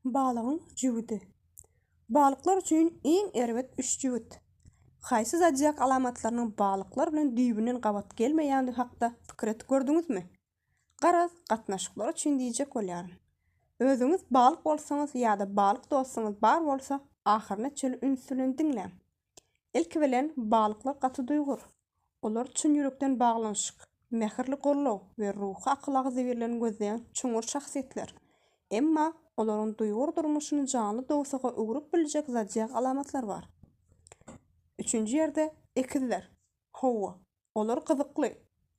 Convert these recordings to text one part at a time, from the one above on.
Balygyň jübüdi. Balyklar üçin iň erbet üç jübüt. Haýsy zodiak alamatlarynyň balyklar bilen düýbünden gabat gelmeýändigi hakda pikir edip gördüňizmi? Garaz, gatnaşyklar üçin diýjek bolýaryn. Özüňiz balyk bolsaňyz ýa-da balyk dostuňyz bar bolsa, ahyryna çenli üns bilen diňläň. Ilki bilen, balyklar gaty duýgur. Olar çyn ýürekden baglanyşyk, mähirli gollag we ruhy akyl-agzybirligini gözleýän çuňňur şahsyýetler. Emma olaryň duýgur durmuşyny janly dowsaga öwrüp biljek zadýak alamatlar bar. Üçünji ýerde, ekizler. Hawa, olar gyzykly,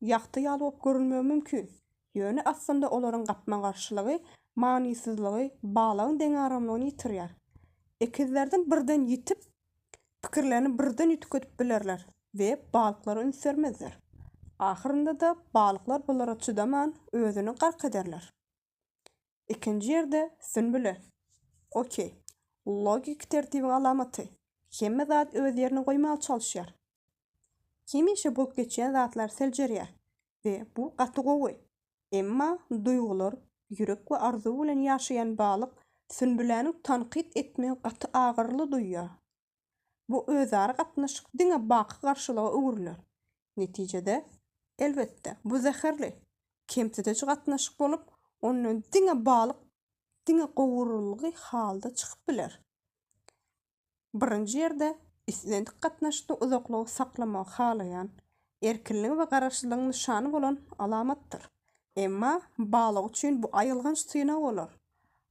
ýagty ýaly bolup görünmegi mümkin, ýöne aslynda olaryň gapma-garşylygy manysyzlygy, balagyň deňaramlygyny ýitirýär. Ekizlerden birden ýitip, pikirlerini birden üýtgedip bilerler we balyklara üns bermezler. Ahyrynda-da balyklar bulara çydaman, özüni gark ederler. Ikinji ýerde Sünbüle. Okey. Logiki tertibiň alamaty. Hemme zat öz ýerine goýmaga çalyşýar. Hemişe bolup geçýän zatlar seljerýär we bu gaty gowy. Emma duýgular, ýürek we arzuw bilen ýaşaýan balyk Sünbüläniň tankyt etmegi gaty agyrly duýýar. bu özara gatnaşyk diňe baky garşylyga öwrüler. Netijede, elbetde, bu zäherli, kemsidiji gatnaşyk bolup, ondan diňe balyk diňe gowurylgy halda çykyp biler. Birinji ýerde, islendik gatnaşykda uzaklygy saklamagy halaýan, erkinligiň we garaşsyzlygyň nyşany bolan alamatdyr. Emma, balyk üçin bu aýylganç synag bolar.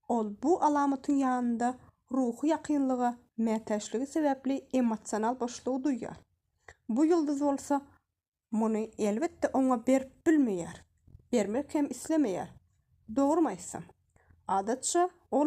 Ol bu alamatyň ýanynda ruhy ýakynlyga mätäçligi sebäpli emosional boşlugy duýýar. Bu ýyldyz bolsa muny elbetde oňa berip bilmeýär, bermek hem islemeýär. Dogrymy aýtsam, adatça ol.